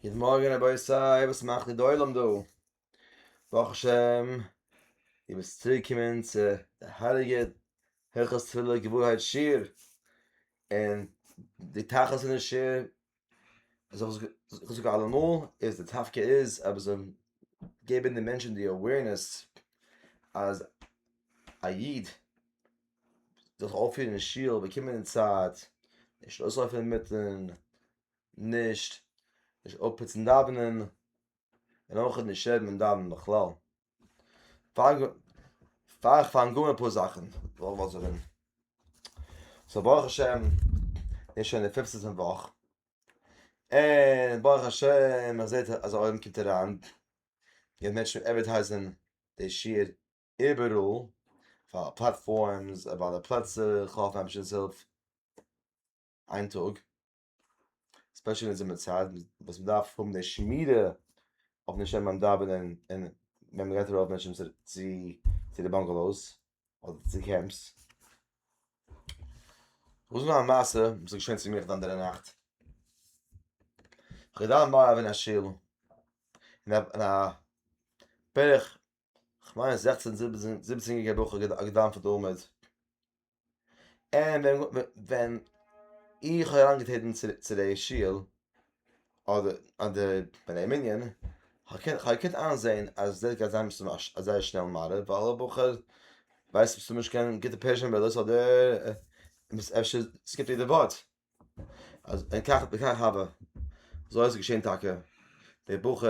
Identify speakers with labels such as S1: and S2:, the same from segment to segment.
S1: גוט מארגן רבותי, וואס מאכט די עולם דא? ברוך השם די ביסט צוריק געקומען צו די הייליגע הלכות תפילה געווארהייט שיעור, און די תכלית פון די שיעור, וואס איך זאג אלעמאל, איז די דווקא איז אז מען זאל געבן די מענטשן די אווערנעס אז א איד זיך אויפפירן אין שול, באקומען אין צייט, נישט אויסלויפן אינמיטן, נישט נישט אפפוצן דאווענען, און אויך נישט שערן ביים דאווענען בכלל. פאר פאר איך פאנג אן אפאר זאכן וויל איך באזונגען. סאו ברוך השם איז שוין די פיפטע פון וואך, און ברוך השם מען זעט אז א עולם קומט אריין, גייט מענטשן עדווערטייזן די שיעור איבעראל, פאר פלאטפארמס, ביי די פלעצער, איך האף המש'ס הילף איין טאג, ספעשל אין זומער צייט וואס מען דארף האבן די שמירה אויפן נשמה ביים דאווענען און ווען מען גייט ארויף מענטשן צו צו די באנגעלאוס אדער צו קעמפס. וואס איז נאך א מעשה וואס איז געשען צו מיך די אנדערע נאכט? איך געדאווענט מעריב אין א שול, אין א בערך כ'מיין זעכצן זיבעצן יעריגע בחור געדאווענט פון תלמוד, און ווען איך האב אריינגעטרעטן צו די שול אדער אדער בני מנין, כ'האב געקענט איינזעהן אז דאס גייט זיין זייער שנעל מעריב ווייל א בחור ווייסט אבסולוט נישט קיין גוטע פערזשען מידות אדער אפשר סקיפט יעדע ווארט, אז אין כך וכך הוה, אזוי איז געשעהן טאקע, דער בחור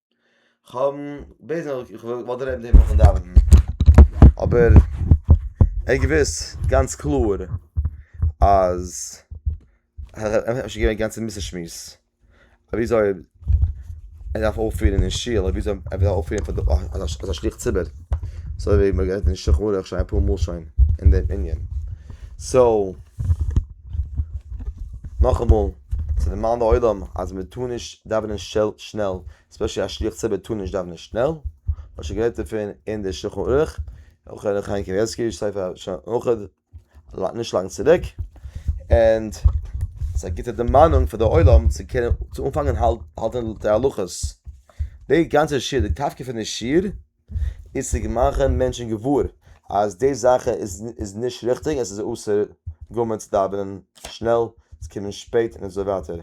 S1: כ'האב בעזה נאר איך וואלט דערהויבן דעם נאכן דאווענען אבער ער האט געוואוסט גאנץ קלאר אז אפשר געווען גאנץ אינמיטן שמועס וויאזוי ער דארף אויפפירן אין שול אדער וויאזוי ער דארף אויפפירן פאר די אזא שליח ציבור אזוי ווי מען גערעדט אין שולחן ערוך שוין אפאר מאל שוין אין דעם ענין סאו נאכאמאל צו דערמאנען די עולם אז מען טאר נישט דאווענען שנעל, ספעשעלי א שליח ציבור טאר נישט דאווענען שנעל, מען האט שוין גערעדט דערפון אין די שלחן ערוך, אויך ר' חיים קנייבסקי ספר שלחן ערוך, נישט לאנג צוריק, ענד ס'איז א גוטע דערמאנונג פאר די עולם צו קענען צו אנפאנגען האלטען די הלכות, די גאנצע שיעור, די קאפקע פון די שיעור, איז צו מאכן מענטשן געוואר אז די זאך איז נישט ריכטיג, עס איז אסור גמור צו דאווענען שנעל, צו קומען שפעט און אזוי ווייטער,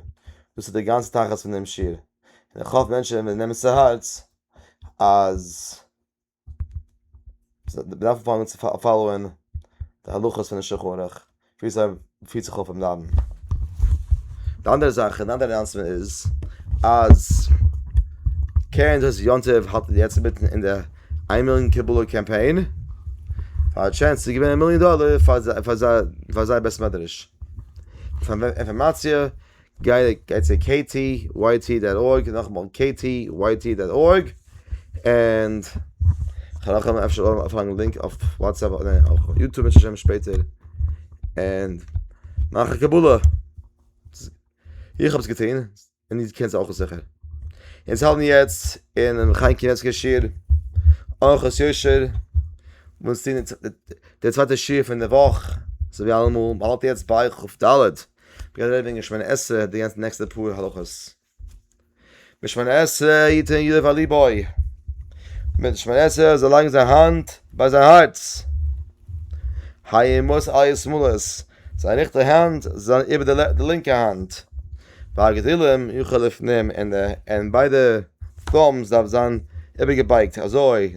S1: דאס איז די גאנצע תכלית פון דעם שיעור, און איך האף מענטשן וועלן נעמען צו הארץ אז מען דארף אנפאנגען צו פאלאוען די הלכות פונעם שולחן ערוך. ווי אזוי פירט זיך אויף אומלאנדן. די אנדערע זאך און אנדערע אנאנסמענט איז אז קרן זית יום טוב האלט יעצט אינמיטן אין די איין מיליאן קבלה קאמפיין פאר א טשענס צו געווינען א מיליאן דאלער פאר זיי פאר זיי פאר זייער בית מדרש. אינפארמאציע גיי צו KTYT דאט ארג, נאכאמאל KTYT דאט ארג, און כ'וועל אויך האבן אפשר אויך א לינק אויף וואטסעפפ אדער אויף יוטוב בעזהשי ת שפעטער, און מאך א קבלה, איך האב עס געטון, און איר קענט עס אויך זיכער. אונז האלטן יעצט אינעם חיים קנייבסקי שיעור, אורחות יושר, אונז טוהן די צווייטע שיעור פון די וואך, אזוי ווי אלעמאל, מ'האלט יעצט ביי כ ד. מ'גייט רעדן וועגן שמונה עשרה די גאנצע נעקסטע פאר הלכות. מיט שמונה עשרה יתן ידו ועל ליבוי. מיט שמונה עשרה זאל לייגן זיין האנט ביי זיין הארץ. הימות אייער שמאלעס. זיין ריכטע האנט זאל זיין איבער די לינקע האנט. והגדילם יוכל לפנים און ביידע פאלמס דארף זיין איבערגעבייגט אזוי.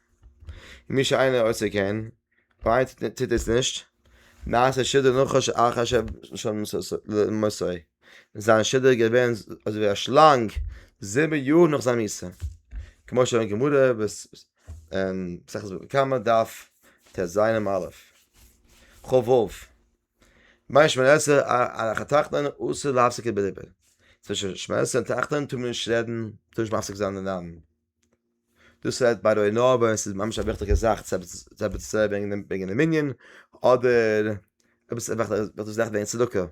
S1: מי שאינו עושה כן, פאר איינס וואס טוט עס נישט, נעשה שדו נחש אחר שלשון מסעו, איז זיין שדו געווען אזויווי א שלאנג זיבן יאר נאך זיין מיתה, כמו שאמרה גמרא מסכת בבא קמא דף טז עמ' א, ח ו, ביי שמערסע און תחתון אסור להפסיק לדבר, צווישן שמערסע און תחתון טאר מען נישט רעדן, טאר נישט מפסיק זיין רעדן. דאס רעדט ביי ר' נאוה און ס'איז ממש א וויכטיגע זאך צו עפעס צו זאגן וועגן דעם מנין, אדער עפעס וועגן צדקה,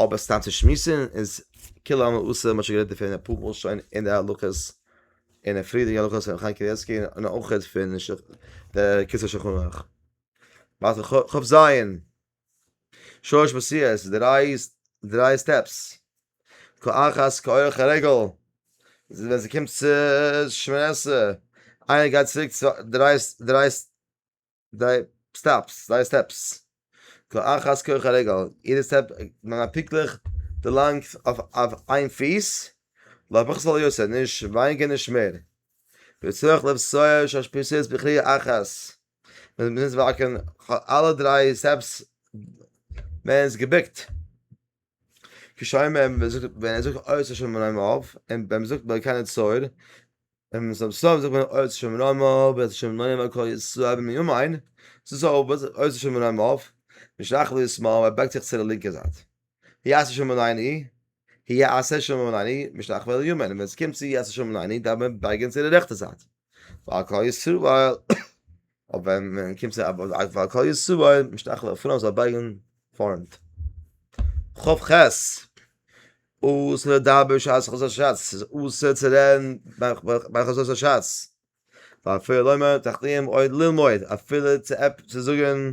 S1: אבער סתם צו שמועסן איז כולא עלמא אסור, מ'האט שוין גערעדט דערפון אפאר מאל שוין אין די הלכות, אין די פריערדיגע הלכות פון חיים קניבסקי און אויך פון קיצור שולחן ערוך. שש מעשיות, די דריי דריי סטעפס, כאחת כאורך הרגל, ווען ס'קומט צו שמיני עשרה, איינער גייט צוריק דריי דריי דריי סטאפס, דריי סטעפס, כאחת כאורך הרגל, יעדע סטעפ נעם א פונקטליך די לענגט אויף אויף איין פיס, לא פחות ולא יותר, נישט ווייניגער נישט מער, וצריך לבצע שש מעשיות בכריעה אחת. מען איז מוז וואקען אלע דריי סטעפס מען איז געבוקט כשאומר ווען ער זאגט אויס א שומר נאמר אויף און ווען מען זאגט ביי קיינע צויר און מען זאגט זאגט מען אויס שומר נאמר אויף ווען שומר נאמר אויף קאל איז צו האבן יום איין ס'איז אויס שומר נאמר אויף משלח ווי עס מאל ער בייגט זיך צו די לינקע זייט. יעשה שלום עלינו, היעשה שלום עלינו, משלח ואל יאמר, און ווען עס קומט צו יעשה שלום עלינו דארף מען בייגען צו די רעכטע זייט, ועל כל ישראל, אבער ווען מען קומט צו ועל כל ישראל, משלח ואל פרנס זאל בייגען פארנט. ח ח אסור לדבר בשעת חזות השץ, ס'איז אסור צו רעדן ביי חזות השץ, ואפילו לומר תחתיהם עוד ללמוד, אפילו צו זאגען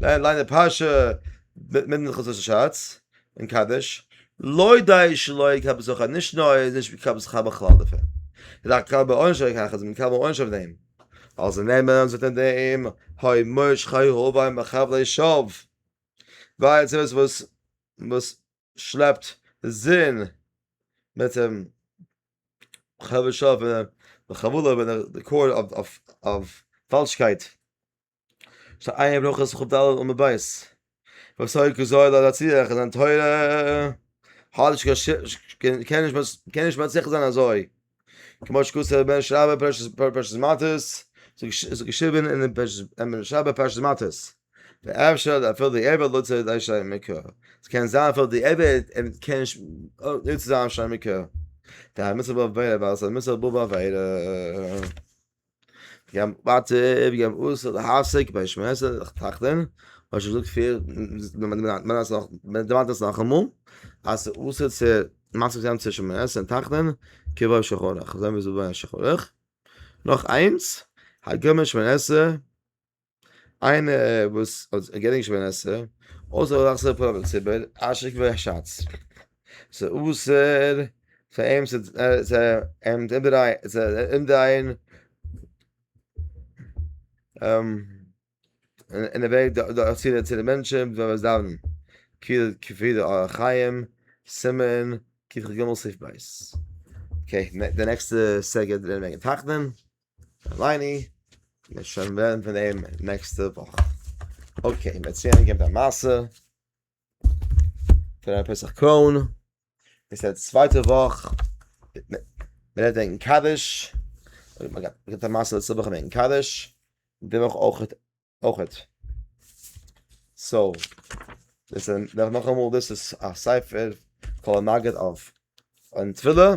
S1: ליין ליין די פרשה מיט מיט חזו ששאץ אין קדש לוי דיי שלוי קאב זאך נישט נאר איז נישט ווי קאב זאך בכלל דער פען דער קאב און שוין קאך אז מען קאב און שוין דעם אלס נעמען זאט אין דעם היי מוש חיי הו ביי מחב ליי שוב ווייל צו וואס וואס וואס שלעפט זין מיט דעם חבר שוב און חבולה ווען דער קור אויף אויף פאלשקייט שטייט אין עיין ברכות חב ד עמוד ב', וואס הוי' ק זאל ער יצליח אין זיין תורה, האלט'ש קען נישט מצליח זיין אזוי, כמו שכתב בן איש רבה פרשת מטות, ס'איז געשריבען אין בן איש רבה פרשת מטות, ואפשר אפילו די עבד לא צריך אנשי המקרא, ס'קען זיין אפילו די עבד קען נישט נוצן זיין אנשי המקרא, דהיינו מצוה באב עבירה ווייל עס איז א מצוה באב עבירה. ווי א מטב ים אסור להפסיק ביי שמע עשרה זיך טראכטען, האט שוין געזאגט פריער, מען דערמאנט עס נאכאמאל, אז ס'איז אסור צו מפסיק זיין צו שמע עשרה און טראכטען, כבאי שחוריך, אזוי ווי ס'איז דא ביי א שחור'עך, נאך איינס, הגם אין שמע עשרה. איינער וואס האט געדענקט שוין ווען עס איז, אויסער אזא סארט פראבלעם צו איבער אשק ואשאץ, ס'איז אסור פאר אים צו אומדרייען אין די וועג דורכצוהערן צו די מענטשן ווען מ'איז דאווענען, כפי די אורח חיים, סימן כג סי' ב'. אקעי, די נעקסטע סעגענט וועט מען תחתן. אליני, מיר שוין רעדן פון דעם נעקסטע וואך. אקעי, מיר ציען אנגעבן די מעשה. פון רבי פסח קרוין. איז די צווייטע וואך. מיר רעדן וועגן קדש. מיר האבן געהאט א מעשה לעצטע וואך וועגן קדש. די וואך אויך. אויכעט. סאו, דאס איז נאכאמאל דאס איז א ספר קול המגיד אויף אן תפילה,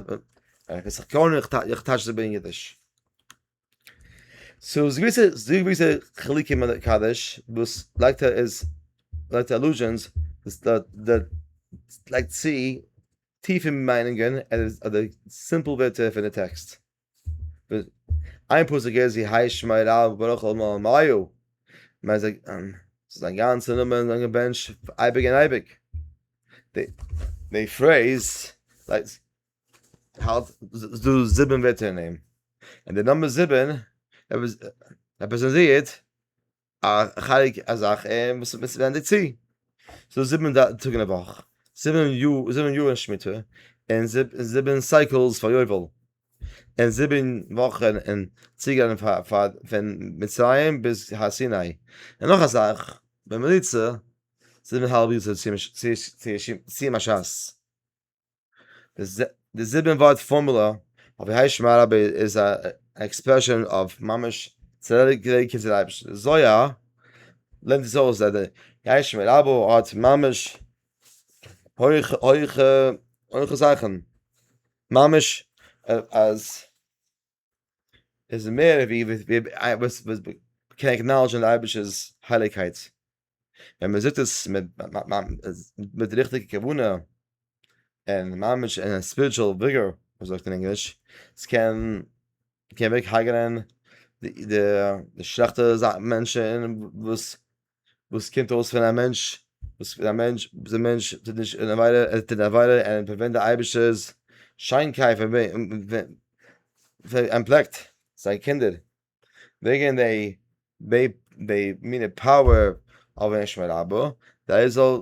S1: איך וויס איך קען און איך טייטש עס ב אין אידיש. סאו ס'איז געוויסע ס'איז דא געוויסע חילוקים אין די קאווערש וואס לייגט ער איז לויט די עלוזשענס וואס די די לייגט צו טיפע מיינונגען אדער סימפל ווערטער פון די טעקסט. איין פסוק איז זי הייסט שמי רב וברוך כל מאור מיו, מיין זיי זיין גאנצע נאמען זיין געבענטש אייביג און אייביג, די פרעיז האלט איז דא זיבן ווערטער אין אים, און די נאמבער זיבן רעפרעזענטירט א חלק א זאך און וואס ווענדט זיך צו ס'דא זיבן טאג אין א וואך, זיבן יאר, זיבן יאר אין שמיטה, און זיבן סייקלס פאר יובל, און זיבן וואכן אין צוגיין פון מצרים ביז הר סיני, און נאך א זאך בממוצע זיבן האלב יאר צו סיום א ש ס. די זיבן ווארט פארמולע אויף ווי הייסט שמע רבי איז א עקספרעשאן אויף ממש צדיק געווען קומט צו די אייבערשטן זויה לערנט עס אויס אז די הייסט שמע רבי האט ממש הויכע הויכע הויכע זאכן ממש אז איז מער ווי וואס וואס קען עקנאלעדזשן די אייבערשטער'ס הייליגקייט, ווען מען זאגט עס מיט מיט די ריכטיגע כוונה, און ממש אין א ספיריטשועל וויגאר ווי מען זאגט אין ענגליש, עס קען קען אוועק הרג'נען די די שלעכטע מענטשן וואס וואס קומט אויס פון א מענטש וואס פון א מענטש ביז א מענטש טוט נישט אן עבירה ער טוט א עבירה און ער פארווענדט די אייבישטער'ס שיינקייט פאר וועם פאר ער פלעגט זיין קינדער וועגן די ב ב מינע פאוער אויף אים שמע רבא די איז זאל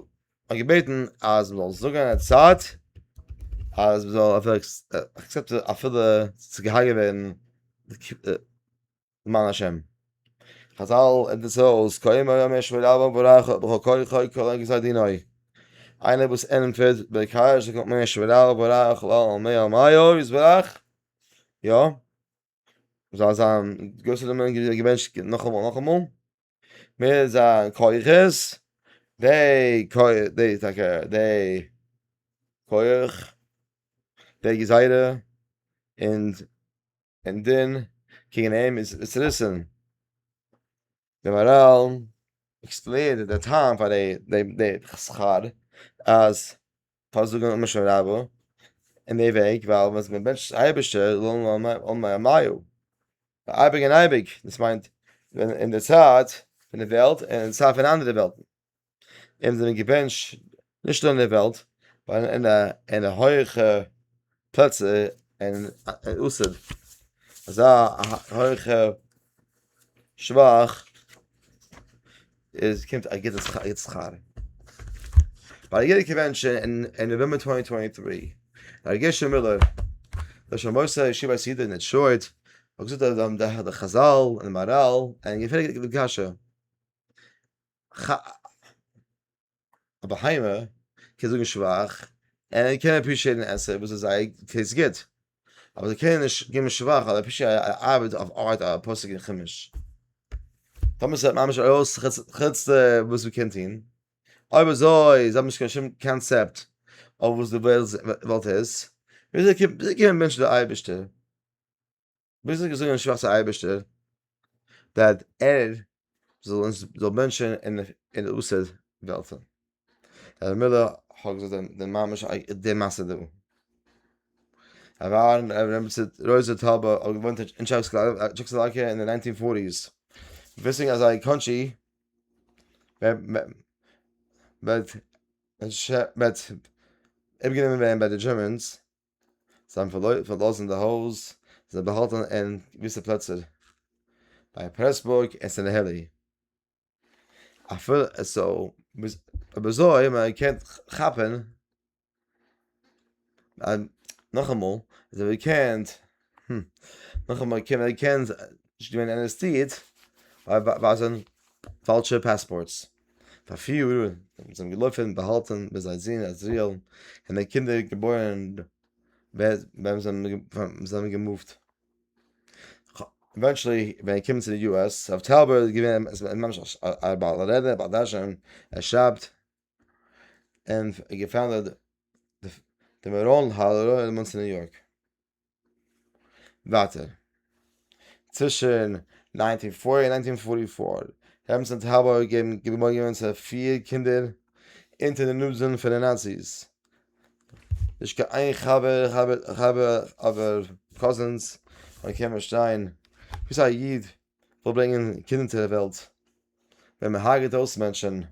S1: האט געבעטן אז מען זאל זאגן א צייט אז מען זאל אויף עקסעפטען אפילו ס'איז געהארגעט געווען למען השם. חזל ענדיגט עס אויס, קוים אויב מיר שוין רב וברך בכל כוחו כל רגע זיי דינאו. איינער וואס ענטפערט בעיקר זאגט נאך מיר שוין רב וברך לא מאה מאה איז ברך. יא. זאל זיין גרויסע נומערן געבענטשט נאכאמאל נאכאמאל. מער זיין כוחות. דעי כח דעי טאקע דעי כח דעי גזירה און און דאן קעגן אים איז עס ריסען די מאראלן עקספלעינט די טעם פאר די די שכר אז פאר זאגן אמן שם רבו אין די וועג ווייל ווען מען בענטשט אייבערשטער לא עלמא עמייהו אייביג און אייביג דאס מיינט אין די צייט פון די וועלט און אין די צייט פון אנדערע וועלטן. און זענען געווען נישט אין דער וועלט, אין א אין א הויעכע פלעצער אין אסד, אזא הויעכע שבח איז קומט א גוטע שכר. ביי א יעדע קאווענשאן אין אין נאוועמבער טווענטי טווענטי טרי, ר' גרשון מילער, ראש המועצה ישיבת ידיד אין דעטרויט, האט געזאגט אז די חזל און די מאראל, און געפרעגט די קשיא. ח א בהמה קען זאגן שבח און ער קען עפרישיעטן עסן וואס איז זייער טעיסט גוט, אבער זיי קענען נישט געבן שבח אויף עפעס א ארבעט אויף ארט א פסוק אין חומש. טאמער ס'העט ממש ארויס חוץ די וואס מ'קען טון, אויב אזוי זיי האבן נישט קיין שום קאנצעפט אויף וואס די וועלט איז, וויאזוי קומט וויאזוי קומען מענטשן צו די אייבערשטער? ביז איך געזאגן אין שווארצע אייבערשטער דאד ער זאל אונז זאל בענטשן אין אין אוסד וועלט דער מילא האט געזאגט דעם דעם מאמעס דעם מאסע דא אבער רעמבצע רויזע טאבע האט געוואונט אין טשעקסלאקע אין די ניינטין פארטיס וויסינג אז זיי קאנטרי וועט וועט אפגענומען ווערן ביי די דזשערמענס זיי האבן פארלאזן די הויז, זיך באהאלטן אין געוויסע פלעצער, ביי פרעסבורג און סענהעלי, אויב אזוי האט מען געקענט כאפן, נאכאמאל, זיי האבן געקענט. ה. נאכאמאל קען מען קען נישט געווען ארעסטירט ווייזען פאלשע פאספארטס פאר פיר יאר און זיי האבן געלויפען באהאלטען ביז זיי זון אז ריעל און די קינדער געבוירען ווען זיי זענען געמופט עווענטשעלי ווען ער קומט צו די יו עס רב טאובער איז געווען ממש א בעל רעדע בעל דרשן ער שרייבט און געפאנדעט די מעראן האדערא אין מאנסי ניו יארק. ווייטער, צווישן ניינטין פארטי און ניינטין פארטי פאר, רעבענס האט האלב אויפגעגעבן געבוירן געווען צו פיר קינדער אונטער די נאזען פון די נאציס, נישט קיין איין חבר אבער קאזינס, און קען פארשטיין וואס א איד וויל ברענגען קינדער צו די וועלט, ווען מען הרג'עט אויס מענטשען.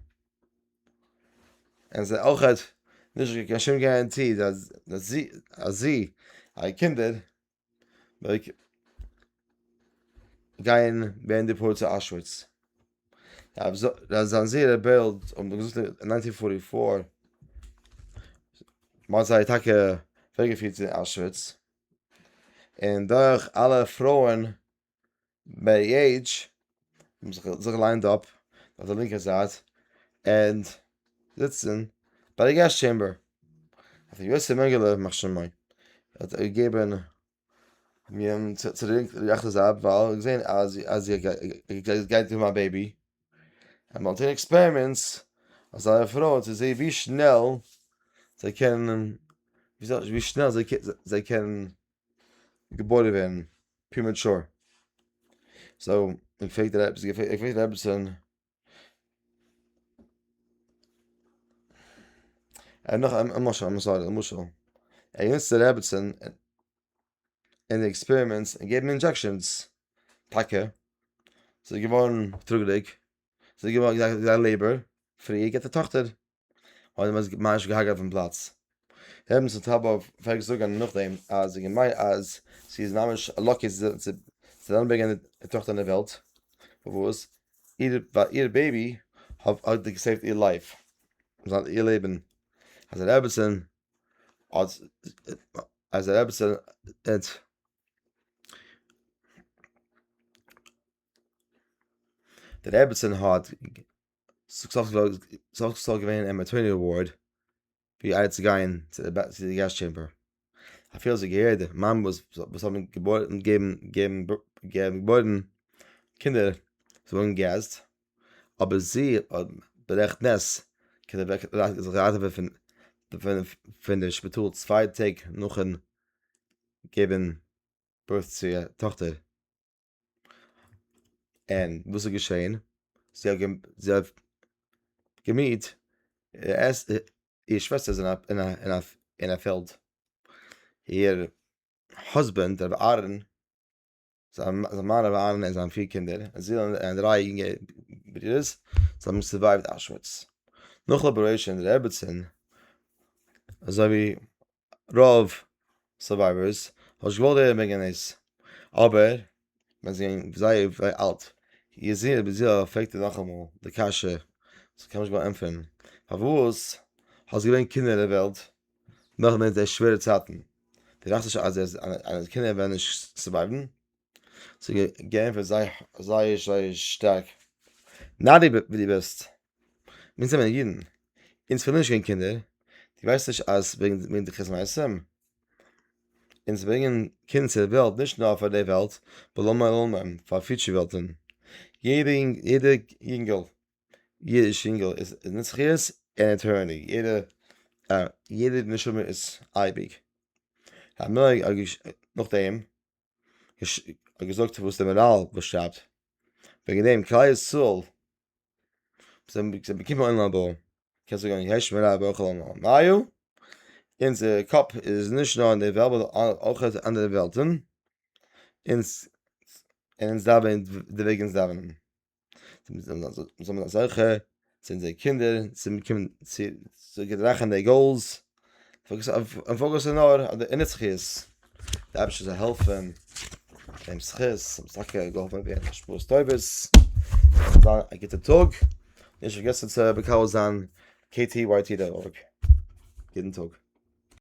S1: און זיי אויך האט נישט געקענט שום גאראנטי אז זי אז זי א קינדער לייק גיין ווען די פארט צו אשוויץ אז זיין זיר ער בעלד און דאס איז אין ניינטין פארטי פאר מאן זיי טאקע וועגעפירט צו אשוויץ און דורך אלע פרויען מערי עידזש, זיך ליינד אפ אויף די לינקע זייט און זיצן ביי די געסט טשעמבער האט אים יוסי מענגעלע ימח שמו האט געגעבן מיר צו די לינקע רעכטע זייט ווייל ער האט געזען אז אז עס גייט אום א בעיבי און מ'האט געזען עקספערימענטס אז זייערע פרויען צו זעהן ווי שנעל זיי קענען ווי שנעל זיי קענען געבוירן ווערן פרימעטשור. סאו איך פרעג דיר עפעס, איך פרעג דיר עפעסען, א נאך א משל, איים סארי, א משל, ער געניצט די רעבעצען אין די עקספערימענטס און געבן אינדזשעקשענס, טאקע, זי איז געווארן טראגעדיג, זי איז געווארן, זי איז א לעיבאר, פריער געט א טאכטער. האט מען עס ממש געהאקט אויפן פלאץ. ר' נסים טאבאוו פלעגט זאגען נאכדעם אז די געמיין אז זי איז ממש לאקי צו אריינברענגען די טאכטער אין די וועלט וואס איר בעבי האט געסעיווט איר לייף איר לעבען אז די רעבעצען האט אז די רעבעצען האט די רעבעצען האט סך הכל געווען א מעטערניטי ווארד ווי איידער צו גיין צו די געזש טשעמבער, אפילו האט זיך געהערט די מאמעס וואס האבן געבוירן קינדער זאלן געז, אבער זי האט ברעכט נס קענען זיך ראטעווען פון די שפיטאל צוויי טעג נאכן געבן בירט צו איר טאכטער. און וואס איז געשען? זי האט געמיהט איר שוועסטער איז אין א פעלד, איר האזבענד רבי אהרן, זיין מאן רבי אהרן און זיינע פיר קינדער, און דריי יונגע ברודערס, זיי האבן סורווייווט אוישוויץ, נאכן אבעראושען רעביצין, אזוי ווי רוב סורווייווערס האב נישט געוואלט הערן וועגן דאס, אבער ווען זיי זענען זייער אלט, איר זוהן אביר זיע פרעגט איר נאכאמאל די קשיא, זיי קענען נישט גענוג ענטפערן, פארוואס האסט געברענגט קינדער אין דער וועלט נאכן זעהן די שווערע צייטן, דו טראכסט נישט אז דיינע קינדער וועלן נישט סורווייוון? זיי האבן געענטפערט זייער זייער שטארק, נאדי ווי דו ביסט. מיר זענען אידן, אונז פארליר נישט קיין קינדער, דו ווייסט נישט אז וועגן די חטא מעשים, אונז ברענגען קינד צו די וועלט נישט נאר פאר די וועלט, פאר פיוטשער וועלטען, יעדע יונגעל, אידיש יונגעל איז נצחיות און עטערניטי, יעדע נשמה איז אייביג, נאכדעם האט געזאגט וואס די מאראל שרייבט, וועגן דעם כלל ישראל זיי זענען בקיאים אין עולם הבא, קענסט זאגן אין יש מראה בכל עולמא מאיה, אונזער קאפ איז נישט נאר אין די וועלט באט אויך אין אנדערע וועלטן, אונז און אונז דארף ווען די וועג אונז דאווענען, זאל מען זיין זוכה צו אונזערע קינדער צו באקומען צו געדערכען די גאולס. פאקוס אויף פאקוס איז נאר אויף די אינער זכות, די אייבערשטער זאל העלפן דעם זכות, און טאקע געהאלפן ווערן מיט השפעות טובות, זאל זיין א גוטע טאג, נישט פארגעסן צו מקבל זיין KTYT דערויף, יעדן טאג.